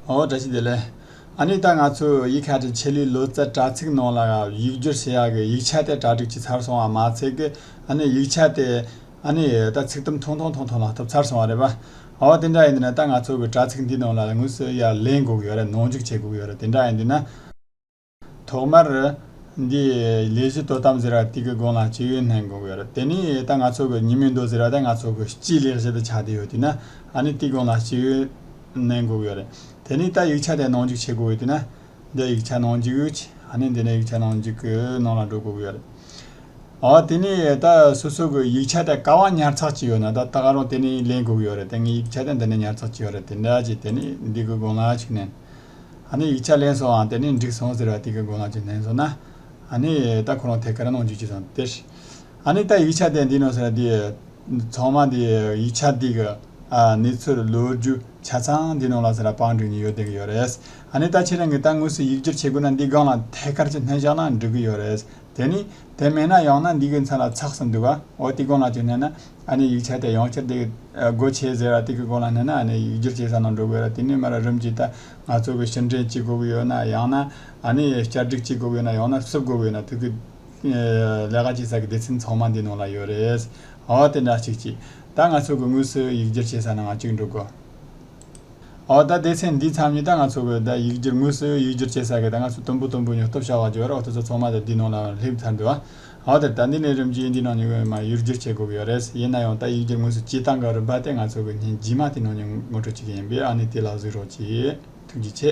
ཨོ་བཀྲ་ཤིས་བདེ་ལེགས། ཨ་ནི་ད་ང་ཚོས་ཡིག་ཁ་དྲིན་ཆེ་ལི་ལོ་ཙཱ་དྲ་ཚིགས་ནང་ལ་ཡིག་བསྒྱུར་བྱེད་ཡག་གི་ཡིག་ཆ་དེ་གྲ་སྒྲིག་བྱེད་ཚར་སོང་བ་མ་ཚད་ཀི་ཨ་ནི་ཡིག་ཆ་དེ་ཨ་ནི་ད་ཚིག་དུམ་ཐུང་ཐུང་ཐུང་ཐུང་ལ་གཏུབ་ཚར་སོང་བ་རེད་པ། ཨོ་དེ་འདྲ་ཡིན་དུས་ན་ད་ང་ཚོ་གི་དྲ་ཚིགས་འདིའི་ནང་ལ་དངོས་སུ་ཡར་ལེན་དགོས་གི་ཡོད་རེད་ནང་འཇུག་བྱེད་དགོས་གི་ཡོད་རེད་དེ་འདྲ་ཡིན་དུས་ན། ཐོག་མར། འདི། ལས་གཞི་དོ་དམ་ཟེར་བ་དེ་གི་དགོངས་ལ་སྤྱི་ཡོན་ལྷན་དགོངས་ཡོད་རེད་དེ་ནི་ད་ང་ཚོ་གི་ཉིན་མོའི་མདོ་ཟེར་བ་དེ་ང་ཚོ་གི་སྤྱིའི་ལས་གཞི་དུ་ཆགས་བསྡད་ཡོད་དུས་ན་ཨ་ནི་དེ་དགོངས་ལ་སྤྱི་ཡོན་ལྷན་དགོངས་ཡོད་རེད་དེ་ནི་ད་ཡིག་ཆ་དེ་ནང་འཇུག་བྱེད་དགོས་ཡོད་དུས་ན་འདི་ཡིག་ཆ་ནང་འཇུག་ཡོད་ཨ་ནི་འདི་ནི་ཡིག་ཆ་ནང་འཇུག་གི་ནང་ལ་འགྲོ་དགོས་ཡོད་རེད་ཨོ་དེ་ནི་ད་སོ་སོ་གི་ཡིག་ཆ་དེ་ག་བ་ཉར་ཚགས་བྱས་ཡོད་ན་ད་ད་ག་རང་དེ་ནི་ལེན་དགོས་ཡོད་རེད་དེ་ངའི་ཡིག་ཆ་དེ་འདི་ནས་ཉར་ཚགས་བྱས་ཡོད་རེད་དེ་འདྲ་ཅིག་དེ་ནི་འདི་གི་དགོངས་ལ་ཆུ་ནན་ཨ་ནི་ཡིག་ཆ་ལེན་སོང་ཨང་དེ་ནས་འགྲིག་སོང་ཟེར་བ་དེ་གི་མགོ་ལངས་ཀྱི་ནན་སོང་ན། ཨ་ནི། ད་ཁོ་རང་ཐད་ཀར་གནང་རྒྱུ་ཅི་ཙམ་སྟེར། ཨ་ནི་ད་ཡིག་ཆ་དེ་འདི་ནོ་ཟེར་བ་དེ། ཚང་མ་དེ་ཡིག་ཆ་དེ་གི། ཨ་ནི་ཚུར་ལོས་རྒྱུ་ཆ་ཚང་འདི་ནང་ལ་ཟེར་བ་པང་བསྒྲིགས་ནས་ཡོད་བསྡད་ཀྱི་ཡོད་རེད། ཨ་ནི་ད་ཁྱེད་རང་གིས་ད་དངོས་སུ་ཡིག་སྒྱུར་བྱེད་དགོས་ན་འདི་སྒང་ལ་ཐད་ཀར་གྱི་སྣོན་བཞག་ན་འགྲིག་གི་ཡོད་རེད། དེ་ནི། དེ་མེད་ན་ཡང་ན་འདི་གི་མཚན་ལ་ཚགས་སུ་འདུག་ཨ་འོ་དེ་གང་ལ་ཅིག་བསྣན་ན། ཨ་ནེ་ཡིག་ཆ་དེ་ཡང་བསྐྱར་འདེད་སྒོ་ཕྱེས་ཟེར་ར་དེ་གི་སྐོར་ལ་སྣེ་ན་ཨ་ནེ་ཡིག་བསྒྱུར་བྱེད་ས་ནང་འགྲོ་དགོས་ར་དེ་ནས་མ་ར་རུམ་གྱི་ད་ང་ཚོ་གི་ཕྱིར་འདྲེན་གཅིག་དགོས་གི་ཡོད་ན་ཡང་ན་ཨ་ནེ་ཡས་བསྐྱར་སྒྲིག་གཅིག་དགོས་གི་ཡོད་ན་ཡང་ན་བསུབ་དགོས་གི་ཡོད་ན་དུས་ཀི་ལས་ཀ་བྱེད་ས་གི་སྡེ་ཚན་ཚང་མ་འདི་ནང་ལ་ཡོད་རེད། འོ་དེ་འདྲ་གཅིག་གྱིས་ད་ང་ཚོ་གི་དངོས་སུ་ཡིག་བསྒྱུར་བྱེད་ས་ནང་ང་གཅིག་འགྲོ་དགོས། འོ་ད་སྡེ་ཚན་འདི་ཚང་མི་ད་ང་ཚོ་གི་ད་ཡིག་བསྒྱུར་དངོས་སུ་ཡིག་བསྒྱུར་བྱེད་ས་གི་ད་ང་ཚོ་དུམ་བུ་དུམ་བུ་ཉོ་སྟོབས་བྱ་བ་བརྗོད་རོགས་དེ་ཚོ་ཚང་མ་ད་འདི་ནང་ལ་སླེབས་ཚར་འདུག་ཨ། འོ་དེ་ལྟ་འདི་ནས་རིམ་གྱིས་འདིའི་ནང་ཉུང་བའི་མ་ཡུལ་སྒྱུར་བྱེད་དགོས་ཀྱི་ཡོད་རེད་ཡིན་ན་ཡང་ད་ཡིག་སྒྱུར་དངོས་སུ་སྤྱི་བཏང་ག་རུ་འབའ་སྟེ་ང་ཚོ་གི་ཉིན་རྗེས་མ་དེ་ནང་ཉུང་ངོ་སྤྲོད་བྱེད་ཀྱི་ཡིན་པས་ཨ་ནི་དེ་ལ་གཟིགས་རོགས་གྱིས། ཐུགས་རྗེ་ཆེ།